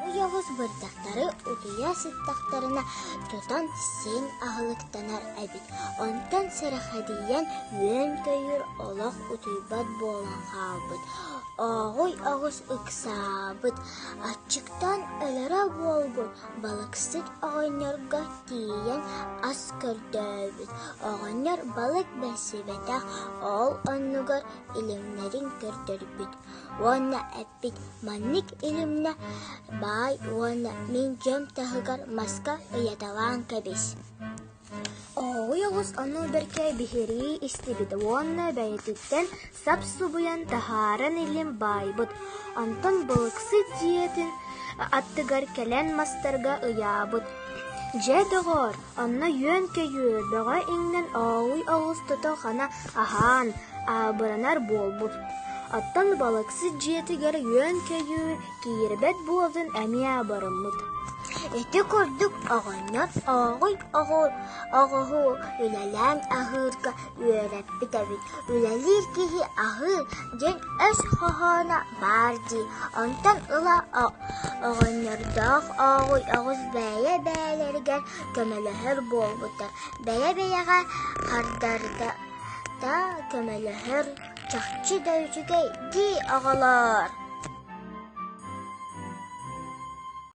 Ойоҕос бырдахтары утуйа сыттахтарына тутан син аһылыктанар эбит. Онтон сэрэхэдийэн үөн-көйүүр олох утуйбат буолан хаалбыт. Ооҕуй оҕус ыксаабыт. Аччыктан өлөрө буолбут балыксыт оҕонньорго тиийэн ас көрдөөбүт. Оҕонньор балык бэсибэтэх, ол оннугар илимнэрин көрдөрбүт уонна эппит «Маннык илимнэ баай уонна мин дьон таһыгар маска ыйаталаан кэбис» Оһоҕой оҕус ону бэркэ биһирии истибит уонна бэйэтиттэн сап-субуйан таһааран илим баайбыт. Онтон Былыксыт дьиэтин аттыгар кэлэн мастарга ыйаабыт. «Дьэ, доҕоор, Онно үөн-көйүү, бөҕө иҥнэн аҕыйах оҕус тото хана аһаан, аабыранар буолбут. Оттон балыксыт дьиэтигэр үөн-көйүү киирбэт буолан эмиэ барыммыт. Ити курдук оҕонньор аҕай оҕоһу үлэлээн аһыырга Үөрэппит эбит, үлэлиир киһи аһыы диэн өс хоһооно баар дии, онтон ыла оҕонньордоох Ооҕуй оҕус бэйэ-бэйэлэригэр көмөлөһөр буолбута, бэйэ-бэйэҕэ хардардата көмөлөһөр чахчы да үчүгэй дии оҕолоор.